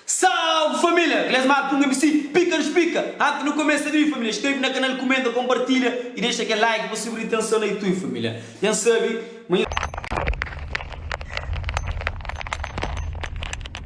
Salve família! Klesmar Pung MC pika nos pika! Antes nu kumesa di família inskreve na kanal kumenta konpartilha y dexa kel like pa sibi ritenson na Youtube família nhos sabi ma.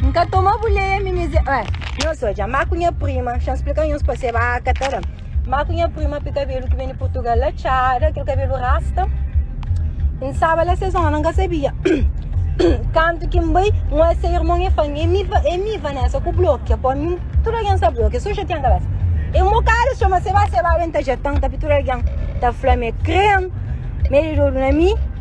N ka toma bu leia mi mizé Ué, nhos so dja má ku nha prima Xa N splika nhos pa seba a ka ta da Má ku nha prima pi kabelu ki ben di Purtugal la txada Kel kabelu rasta N staba la se zóna N ka sabia Kantu ki N bai N oi se irmon e fla-m E mi E mi Vanessa ku blokia pa mi Tudu algen sta blokia Sô xatia-m kabésa E n bokadu txoma seba Seba ben ta jeta-m Tapi tudu algen ta fla-m e kre-m Mede di odu na mi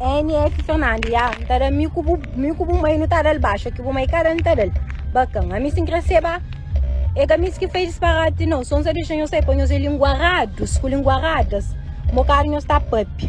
NS Fernando, ya, N ta da mi ku bu, mi ku bu mai nu ta dal baxa, ki bu mai ka da N ta dal. Bakan, ami si N kre se ba, e ka mi si ki fez disparate nau, son sa dexa nhos sai pa nhos e linguarados ku linguaradas, mo kar nhos ta papia.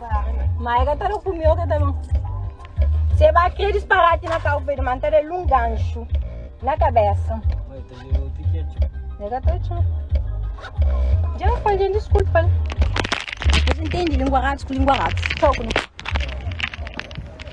Ma e ka ta da ku mi, o ka ta no. Se ba kre disparati na kau pe man, ta da lun ganxu na kabesa. Oi, ta leu ti ke txu. E ka ta txu. Dja fal, dja desculpa. Mas entendi, lingua ratos ku lingua ratos. Txau ku mi.